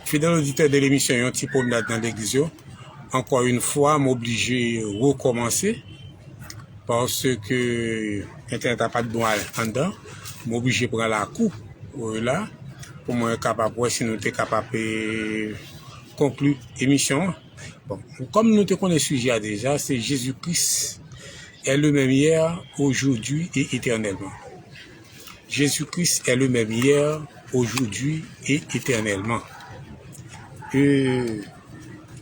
Fidèl oditè de lemisyon yon ti pwomnad nan legliz yo, ankò yon fwa m oblije rekòmanse, paske entènèt la pa t bon anndan, m oblije pran lakou la pou mwen kapab wè si nou te kapab konkli emisyon an. Bon, kòm nou te konnen sijè a deja, se Jezi Kris è le menm yè, ojoudwi e etènèlman. Jezi Kris è le mèm yè, ojoudwi e etènèlman. E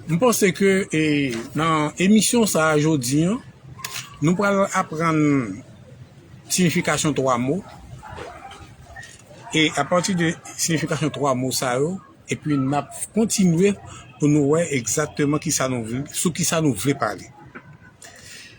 m panse ke e nan emisyon sa a jodi an, nou pral aprann siyifikasyon 3 mo e apati de siyifikasyon 3 mo sa yo epi n ap kontinye pou nou wè egzakteman kisa nou vle, sou kisa nou vle pale.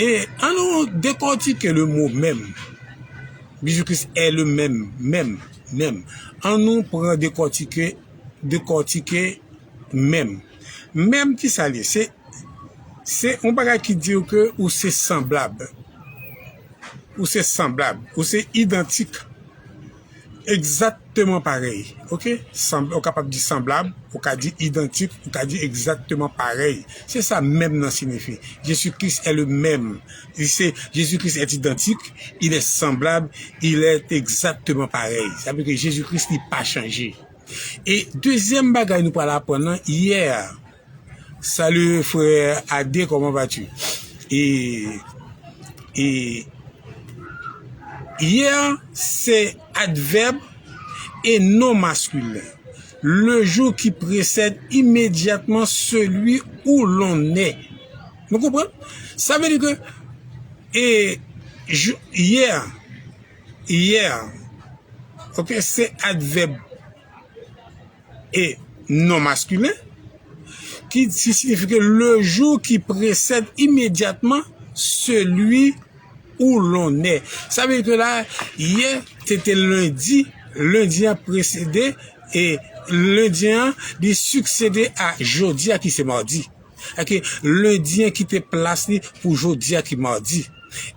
E an nou dekòtike le mo menm. Bijou Kris è le menm, menm, menm. An nou pran dekòtike, dekòtike menm. Menm ki sa l ye? Se, se yon bagay ki di ou ke ou se sanblab. Ou se sanblab. Ou se idantik. Egzakteman parèy, ok. Sanb, ou kapab di sanblab, ou ka di idantik, ou ka di egzakteman parèy. Se sa mèm nan sinifi. Jezi Kris è le mèm. Li se, Jezi Kris è idantik, il è sanblab, il è egzakteman parèy. Sa vle di ke Jezi Kris li pa chanje. E dezyèm bagay nou pral aprann nan, yè a. Salut frère Ade comment vas tu et et hier se advèb e non maskulen le jou ki presèd imedyatman seli ou lon è nou konprann sa vle di ke e jou hier hier ok se advèb. E non maskilen, ki siyifi ke le jou ki presèd imedyatman seli ou lonè. Sa vle di ke la, yè te te lendi, lendi an presede, e lendi an li siksede a jodi a ki se mardi. Sèke lendi an kite plas li pou jodi a ki mardi.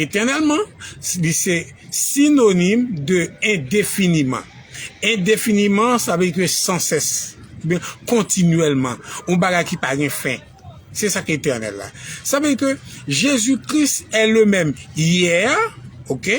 Etènèlman, li se sinonim de endefiniman. Endefiniman, sa vle di ke san sès, oubyen kontinyèlman, yon bagay ki pa gen fen. Se sa ki etènèl la. Sa vle di ke Jezi Kris è le menm yè, oke.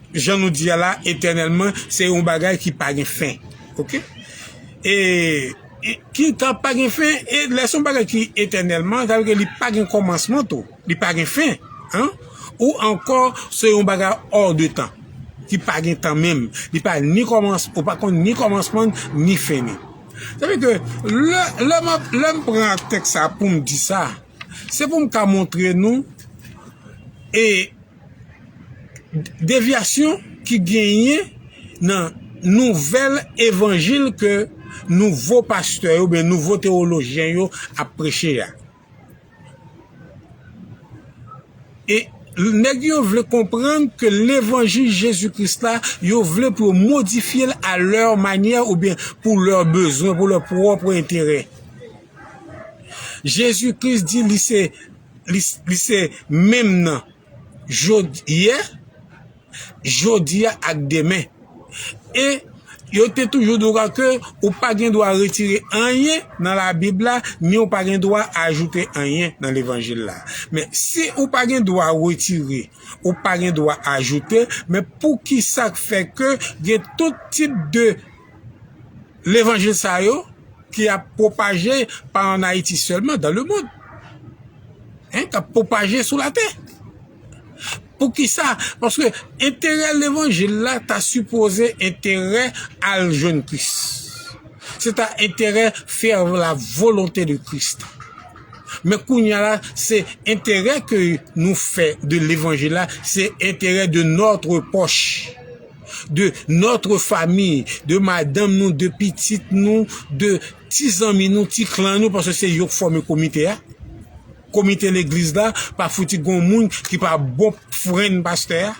Jan nou di a la etènèlman se yon bagay ki pa gen fen ok e ki ka pa gen fen e lè son bagay ki etènèlman sa vle di li pa gen kòmansman tou li pa gen fen an ou ankò se yon bagay ò de tan ki pa gen tan menm li pa ni kòmans ou pa konn ni kòmansman ni fen ni sa vle di ke lè lè map lè m pran tèks sa poum di sa se poum ka montre nou e Devyasyon ki genyen nan nouvèl evanjil ke nouvo pastè yo oubyen nouvo tewolojyen yo ap preche a. E nèg yo vle konprann ke levanjil Jezi Kris la, yo vle pou yo modifye l a lè manyè oubyen pou lè bezwen, pou lè pwòp enterè. Jezi Kris di li se. Li se menm nan yè, jodi a ak demen. E yo te toujou di w ke ou pa gen dwa retire anyen nan Labib la, ni ou pa gen dwa ajoute anyen nan Levanjil la. Men, si ou pa gen dwa retire, ou pa gen dwa ajoute, men poukisa k fè ke gen tout tip de levanjil sa yo ki ap pwopaje pa an Ayiti sèlman, dan le mond. Hein, kap pwopaje sou latè. Poukisa? Paske enterè levanjil la ta sipoze enterè al jwenn Kris. Se ta enterè fè la volonte de Kris. Men kounya la, se enterè ke nou fè de levanjil la, se enterè de nòtre pòch. de notre famille, de madanm nou, de pitit nou, de ti zanmi nou, ti klan nou, paske se yo k fòme komite a, komite legliz la, pa fouti gon moun ki pa bon fren pastè a,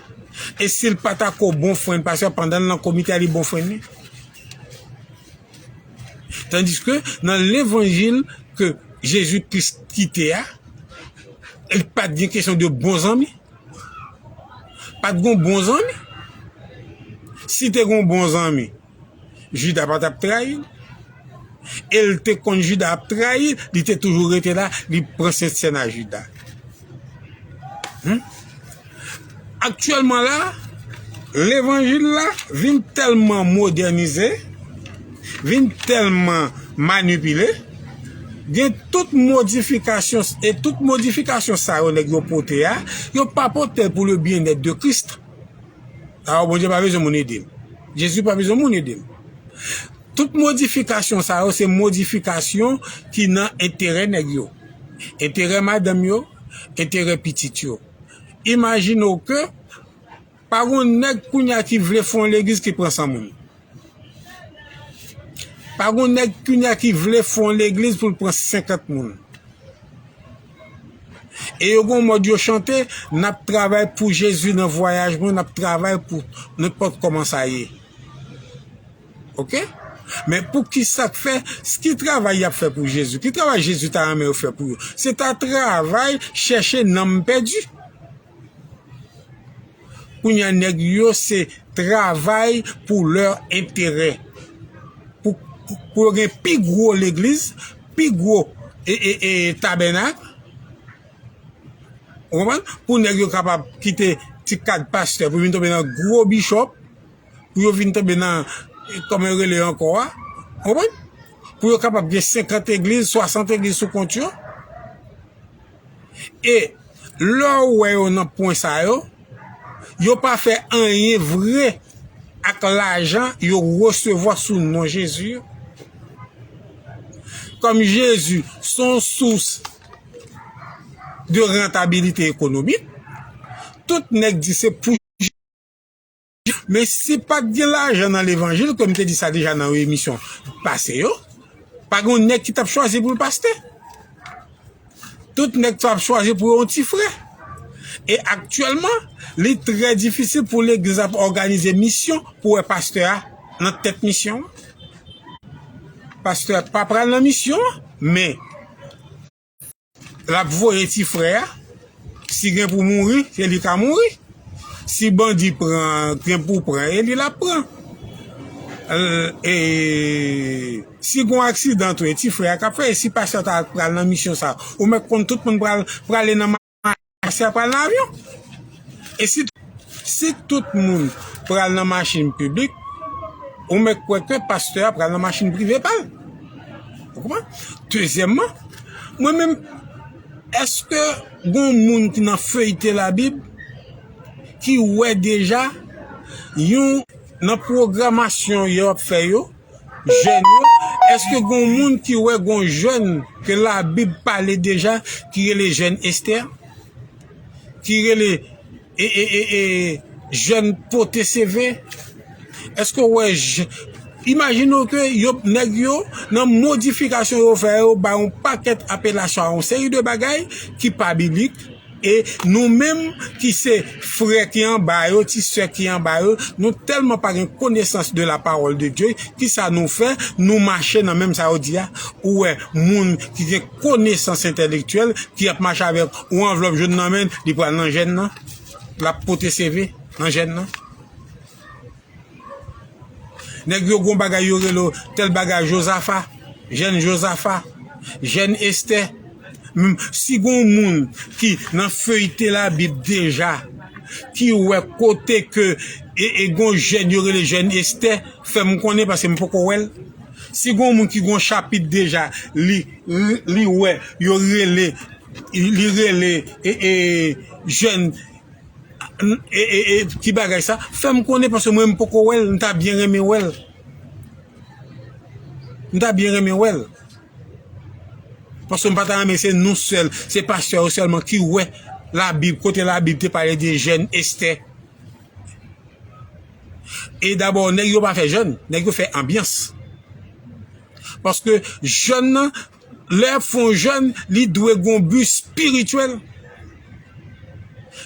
e sil pa ta ko bon fren pastè a pandan l nan komite a li bon fren li? Tandiske nan levanjil ke Jezi Kris kite a, li pat gen kesyon de bon zanmi. Pat gon bon zanmi? Si te gon bon zanmi, Juda pa tap trayil? El te konn Juda ap trayi, li te toujou rete la, li pran sent sèn a Juda. Aktyèlman la, levanjil la vin tèlman modènize, vin tèlman manipile, gen tout modifikasyon e tout modifikasyon sa yo nèg yo pote a, yo pa pote l pou le byennèt de Christ. Alò Bondye pa bezwen moun ede l. Jezi pa bezwen moun ede l. Tout modifikasyon sa yo se modifikasyon ki nan enterè nèg yo, enterè madanm yo, enterè pitit yo. Imajine w ke. Pa gon nèg kounya ki vle fon legliz ki pran san moun. Pa gon nèg kounya ki vle fon legliz pou l pran 50 moun. E yo gon mòd yo chante, n ap travay pou Jezi nan vwayaj mwen, n ap travay pou nenpòt kòman sa ye. Ok? Men pou ki sa k fè, ki travay y ap fè pou Jezi? Ki travay Jezi ta renmen yo fè pou yo? Se ta travay chèche nanm pèdi. Kounya nèg yo se travay pou lè enterè. Pou yo gen pi gwo legliz, pi gwo e tabènak. Ou konprann? Pou nèg yo kapab kite ti kad pastè pou vin tonbe nan gwo bishop. Pou yo vin tonbe nan kòman yo rele ankò a. Ou konprann? Pou yo kapab gen 50 egliz, 60 egliz sou kont yo. E, lè ou wè yo nan pwen sa yo, yo pa fè anyen vre ak lajan yo resevwa sou non Jezi yo. Kòm Jezi se yon sous de rantabilite ekonomik, tout nèg di se pou. Men si pat gen lajan nan levanjil kòm te di sa deja nan yon emisyon pase yo pa gen yon nèg ki tap chwazi pou l pastè tout nèg sa ap chwazi pou yon ti frè e aktyèlman li trè difisil pou legliz la òganize misyon pou wè pastè a nan tèt misyon an pastè a pa pral nan misyon an men. Lap voye ti frè a. Si gen pou mouri, se li ka mouri. Si bandi pran, gen pou pran, e li lap pran. Si gon aksidan tou, e ti frè a kap fè, e si pastè ta pral nan misyon sa, ou mèt konn tout moun prale nan. Asya pral nan avyon? E si si tout moun pral nan machin piblik, ou mèt kwè ke pastè a pral nan machin prive pa l? Ou konprann? Dezyèmman, mwen menm, èske gon moun ki nan feyte Labib ki wè deja yon nan pwogramasyon yo ap fè yo, Jèn yo, èske gon moun ki wè gon jèn ke la bib pale deja ki rele jèn estè? Ki rele e e e e jèn pote seve? Èske ou wè je imajine ou ke yo nèg yo nan modifikasyon yo fè yo ba yon pakèt apelasyon a yon seri de bagay ki pa biblik. E nou menm ki se frè ki anba yo, ti sè ki anba yo, nou tèlman pa gen konesans de la parole de Dieu, ki sa nou fè? Nou mache nan menm sa yo di a. Ou wè moun ki gen konesans entèlektyèl ki ap mache avèk yon anvlòp jòn nan men, li pral nan jèn nan, l ap pote CV nan jèn nan. Nèg yo gon bagay yo rele tèl bagay Jozafa, jèn Jozafa, jèn Estè. Si gon moun ki nan feyite labib deja ki wè kote ke gon jèn yo rele jèn Estè, fè m konnen paske m poko wè l. Si gon moun ki gon chapit deja li wè yo rele li rele jèn. Ti bagay sa fèm konnen paske mwen m poko wèl m ta byen renmen wèl m ta byen renmen wèl paske m pa ta renmen se nou sèl se pastè yo sèlman ki wè la bib kote la bib te pale de jèn estè e dabò nèg yo pa fè jèn nèg yo fè anbyans paske jèn nan Lè ap fè yon jèn, li dwe gen yon bi spirityèl.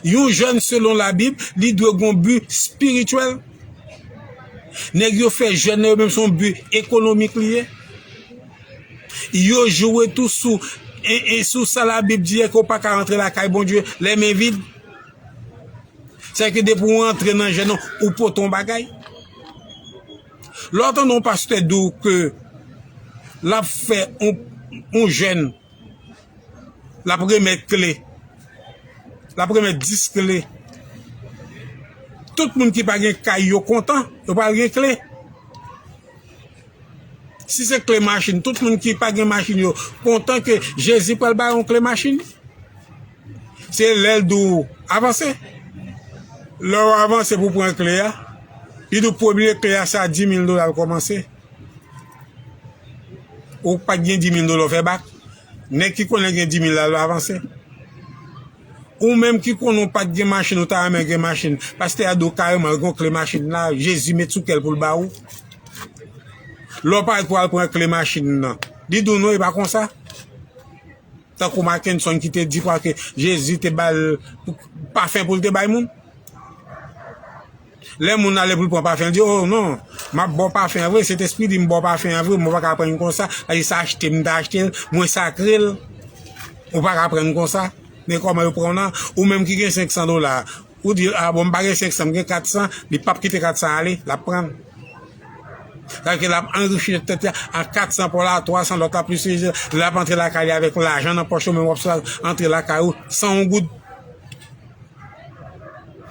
Yon jèn selon labib, li dwe gen yon bi spirityèl. Nèg yo fè jèn nan yo menm se yon bi ekonomik li ye. Yo jwe tou sou sou sa labib di a ke w pa ka rantre lakay Bondye lè men vid. Sèke depi w rantre nan jèn nan, ou pote yon bagay. Lè w tande yon pastè di w ke l ap fè yon jèn, l ap remèt kle, l ap remèt 10 kle, tout moun ki pa gen kay yo kontan, yo pral gen kle. Si se kle machin, tout moun ki pa gen machin yo kontan ke Jezi pral ba yo yon kle machin. Se lè l di w avanse. Lè w avanse pou w pran kle a, li di w premye kle a se a dimil dola l kòmanse. Ou pa t gen dimil dola w fè bak. Nèg ki konnen gen dimil la l avanse. Ou menm ki konnen w pa t gen machin ou ta renmen gen machin, pastè a di w kareman l gen yon kle machin la Jezi met sou kè l pou l ba ou. Lè w parèt pou w al pran kle machin nan, li di w non e pa konsa. Tankou Mackenson ki te di kwa ke Jezi te ba l pafen pou l te bay moun. Lè moun ale pou l pran pafen, l di, O, non, m ap ba w pafen an vre, Sentespri di m ba w pafen an vre, mwen pa ka pran l konsa, paske se achte m te achte l, mwen sakre l, ou pa ka pran l konsa. Men kòman yo pran w nan? Ou menm ki gen senksan dola, Ou di ah bon m pa gen 500 m gen 400 li pap kite 400 ale lap prann sa vle di lap anrichi tèt li ak 400 paw la 300 lòt la plis lap antre lakay li avèk lajan nan pòch ou menm wap swa antre lakay ou san yon goud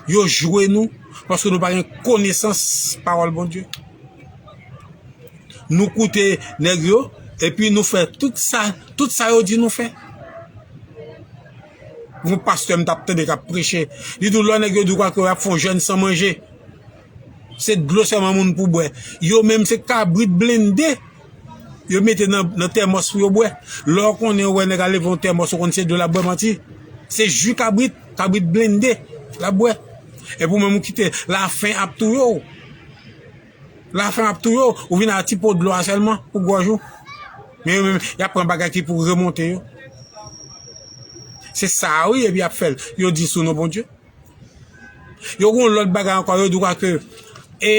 yo jwe nou paske nou pa gen konesans pawòl Bondye nou koute nèg yo epi nou fè tout sa tout sa yo di nou fè yon pastè m tap tande kap preche, li di w lò nèg yo di w kwake yo ap fè yon jèn san manje, se dlo sèlman moun pou bwè, yo menm se kabrit blende yo mete nan tèmòs pou yo bwè, lè w konnen ou wè nèg al leve yon tèmòs ou konnen se dlo lap bwè manti, se ji kabrit, kabrit blende lap bwè, epi ou menm ou kite la fen ap touye w. La faim ap touye w, ou vin ak ti po dlo a sèlman pou gòj ou. Men yo menm, y ap pran bagay ki pou remonte yo. Se sa a wi, epi y ap fè l. Yo di sou non Bondye. Yo gon lòt bagay ankò, yo di w paske e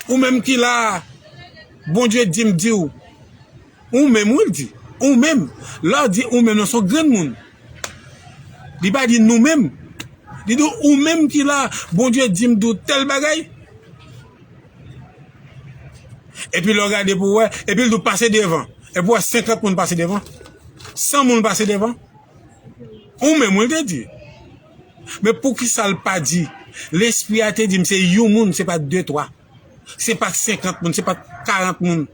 ou menm ki la a, Bondye di m di w. Ou menm wi l di. Ou menm. Lè w di ou menm lan se yon granmoun. Li pa di nou menm. Li di w ou menm ki la a. Bondye di m di w tèl bagay. Epi lè w gade pou w wè. Epi l di w pase devan. Epi w wè 50 moun pase devan. 100 moun pase devan. Ou menm wi l te di. Men poukisa l pa di. Lespri a te di m se yon moun se pa de twa. Se pa 50 moun, se pa 40 moun.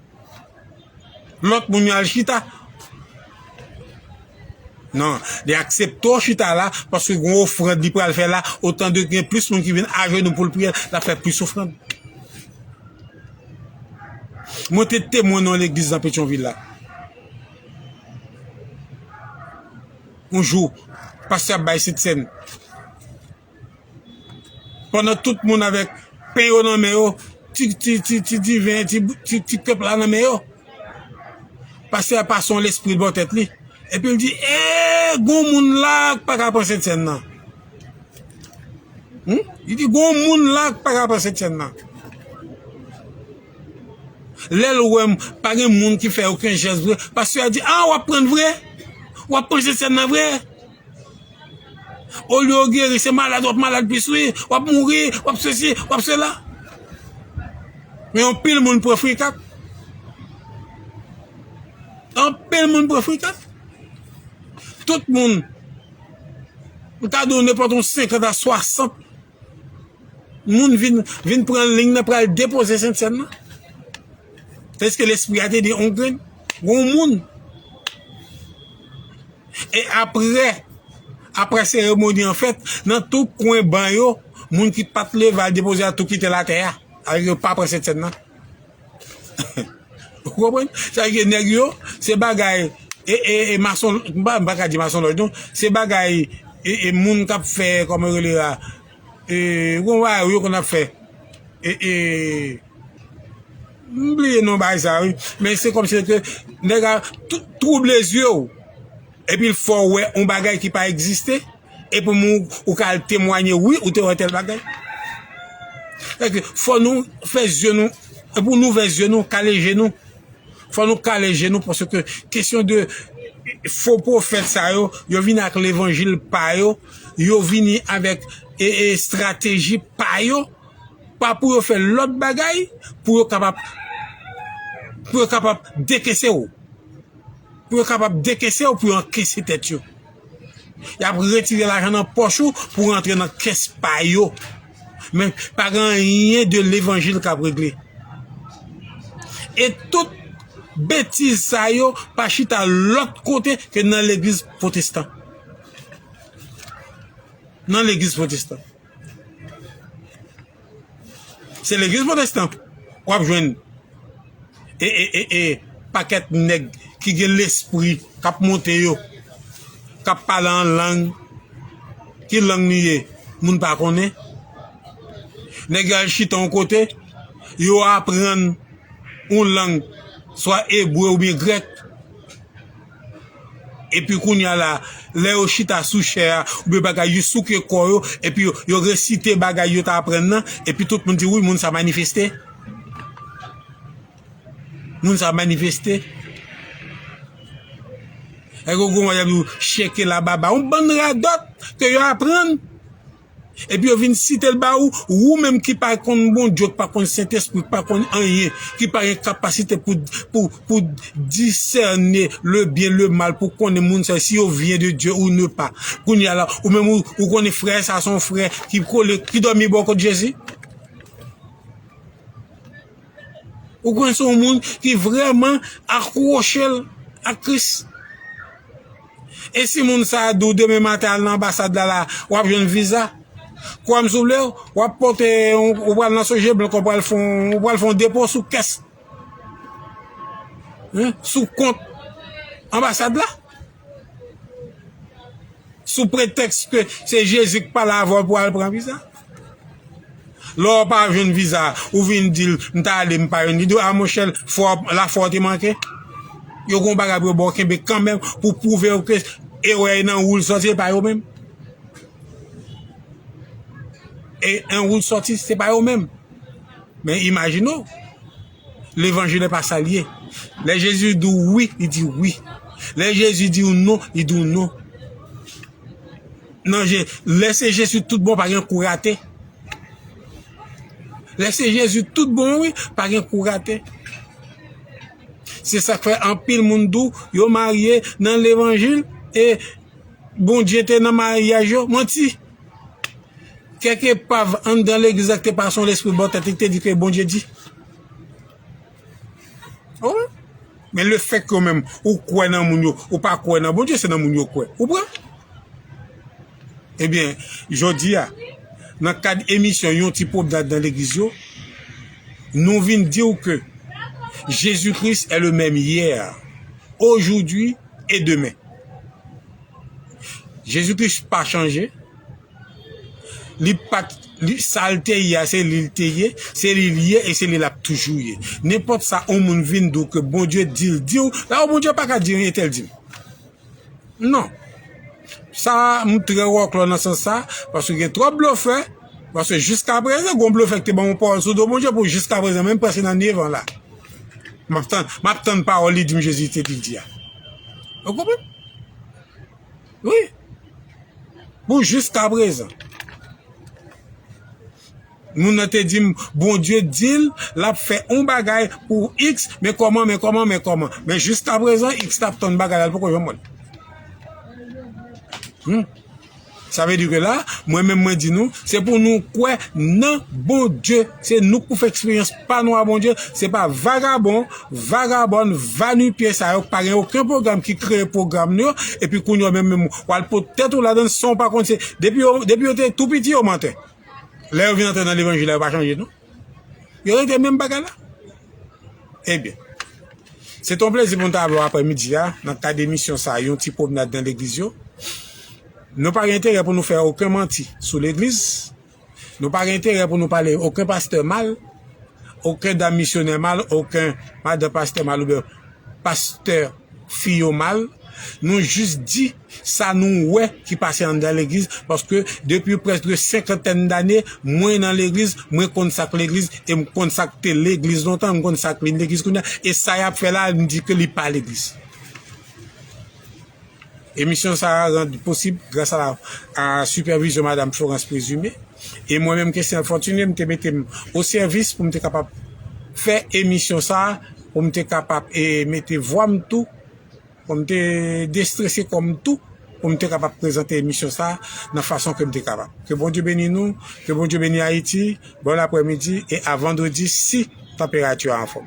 Lòt moun yo al chita. Non, li aksepte w chita la, paske gen yon ofrand li pral fè la, otan de gen plis moun ki vin ajenou pou l priye, l ap fè plis ofrand. Mwen te temwen nan yon legliz nan Petyonvil la. Yon jou, pastè ap bay sentsèn. Pandan tout moun avèk pen yo nan men yo, ti ti ti ti diven, ti ti ti kèp la nan men yo, pastè a pase yon lespri bò tèt li, epi l di, Ee, gon moun la a k pa ka pran sentsèn nan. Hum? Li di, Gon moun la a k pa ka pran sentsèn nan. Lè l wè m, pa gen moun ki fè oken jès vre, pastè a di, A, w ap pran l vre? W ap pran sentsèn nan vre? Olye ou geri se malad wap malad plis wi, wap mouri, wap sesi, wap sela. Men yon pil moun pran frikap. Yon pil moun pran frikap. Tout moun, mta di w nenpòt yon 50 a 60. Moun vin vin pran lign nan pral depoze sentsèn nan. Eske lespri a te di on grenn? Gon moun. E apre, apre seremoni an fèt, nan tou kwen ban yo, moun ki pat leve al depoze a tou kite latè a. Yo pa pran sentsèn nan. Ou konprann? Sa vle di nèg yo, se bagay e e e mason, m pa m pa ka di masonlòj non, se bagay e e moun k ap fè kòman yo rele a e ou konprann bagay yo konn ap fè e e m bliye non bagay sa wi men se kòmsi se te nèg a twouble zye w epi l fè w wè on bagay ki pa egziste. E pou mou ou ka al temwanye wi ou te wè tèl bagay. Fè ke fò nou fè zye nou, e pou nou vè zye nou, kale je nou. Fò nou kale je nou pwosè ke kesyon de fo pwofèt sa yo, yo vin ak levanjil pa yo, yo vini avèk e estrateji pa yo, pa pou yo fè lòt bagay, pou yo kapab, pou yo kapab dekese ou. Pou yo kapab dekese ou pou yo ankese tèt yo. Yap retire lajan nan pòch ou pou rantre nan kès pa yo. Men pa gen anyen de levanjil kap regle. E tout betiz sa yo pa chita lòt kote ke nan legliz pwotestan. Nan legliz pwotestan. Se legliz potestan wap jwenn e pakèt nèg ki gen lespri kap monte yo, kap pale an lang, ki lang li ye moun pa konnen, nèg yo al chita yon kote, yo aprann yon lang swa ebre oubyen grèk. Epi kounya la, lè yo chita sou chè a, oubyen bagay, yo souke kò yo, epi yo resite bagay yo ta aprann nan, epi tout moun di, wi, moun sa manifeste. Moun sa manifeste. Lè yo gen yon bagay y ap di w, cheke la baba, yon bann radòt ke yo aprann. Epi yo vin site l ba ou, ou menm ki pa konn Bondye, ki pa konn Sentespri, ki pa konn anyen, ki pa gen kapasite pou pou disène le byen, le mal, pou konnen moun sa yo si yo vyen de Dye ou ne pa. Kounye a la, ou menm ou konnen frè sa a se yon frè ki kole, ki dòmi bò kot Jezi? Ou konnen se yon moun ki vrèman akwoche l ak Kris? E si moun sa a di w demen maten al nan anbasad la la, w ap jwenn viza? Kwa m souple w, w ap pote yon, ou pral nan Sogeblk, ou pral fè yon, ou pral fè yon depo sou kès, sou kont anbasad la. Sou pretèks ke se Jezi k pale avè w pou w al pran viza. Lè w pa jwenn viza ou vin di l m ta ale m pa jwenn viza a monchè fwa w la fwa w te manke. Yo gon bagay pou yo ba w kenbe kanmenm pou pwouve w ke erè e nan ou l sòti e pa yo menm. E nan ou l sòti se pa yo menm. Men imajine w levanjil e pa sa l ye. Lè Jezi di w wi li di w wi. Lè Jezi di w non li di w non. nan je lè se jezi tout bon pa gen kou rate lè se jezi tout bon wi pa gen kou rate se sak fè anpil moun dou yo marye nan levanjil e bondye te nan maryaj yo manti kèk epav anndan legliz la ki te pa son lespri bon tèt li ki te di ke bondye di Ou wè? Men le fèk yo menm, ou kwè nan moun yo, ou pa kwè nan Bondye, se nan moun yo kwè. Ou pran? Ebyen, jodi a, nan kad emisyon yon ti pwoblad nan legliz yo, nou vin di ou ke Jezi Kris è le menm yè, ojoudwi e demen. Jezi Kris pa chanje. Li pat li sal te ye a se lil te ye, se lil ye e se li lap toujou ye. Nenpòt sa on moun vin di w ke Bondye di l di w, la o Bondye paka di anyen tèl di m. Non. Sa m trè wòklò nan sans sa, paske gen twòp blofè, paske jiskaprezan gon blofè ki te ban m on pawòl sou do Bondye pou jiskaprezan menm preske nan 9 an la. Map tann map tann pawòl li di m Jezi te di l di a. Ou konprann? Wi, pou jiska prezan. Moun nan te dim Bondye dil lap fè on bagay pou X men kòman men kòman men kòman men jiska prezan X tap tann bagay la li poko janm wèl. Humm sa vle di ke la mwen menm mwen di nou se pou nou kwè nan Bondye se nou k pou fè eksperyans. Pa nwa Bondye, se pa vagabon, vagabòn, va nu pye sa yo k pa gen oken pwogram ki kreye pwogram nou yo epi kounye w menm menm w al pot tèt ou ladann san w pa konn se depi yo depi yo te tou piti yo mantè lè yo vin antre nan levanjil la yo pa chanje non yo rete menm bagay la ebyen se te yon plezi pou m ta avè w aprè midi a nan kad emisyon sa yon ti pwomnad nan legliz yo nou pa gen enterè pou nou fè oken manti sou legliz Nou pa gen enterè pou nou pale oken pastè mal, oken dam misyonè mal, oken madan pastè mal oubyen pastè fi yo mal. Nou jis di sa nou wè ki pase anndan legliz paske depi prèske de senkantèn dane mwen nan legliz, mwen konn sa k legliz e m konn sa k te legliz lontan e m konn sa k vin legliz kounye a e sa y ap fè la a m di ke li pa legliz. Emisyon sa a rand posib gras a a sipèvizyon Madam Florence Présumé e mwen menm Kesnel Fortuné m te mete m o sèvis pou m te kapab fè emisyon sa a pou m te kapab e mete vwa m tou pou m te destrese kò m tou pou m te kapab prezante emisyon sa a nan fason ke m te kapab. Ke Bondye beni nou, ke Bondye beni Ayiti, bòn aprèmidi e a vandredi si tanperati a anfòm.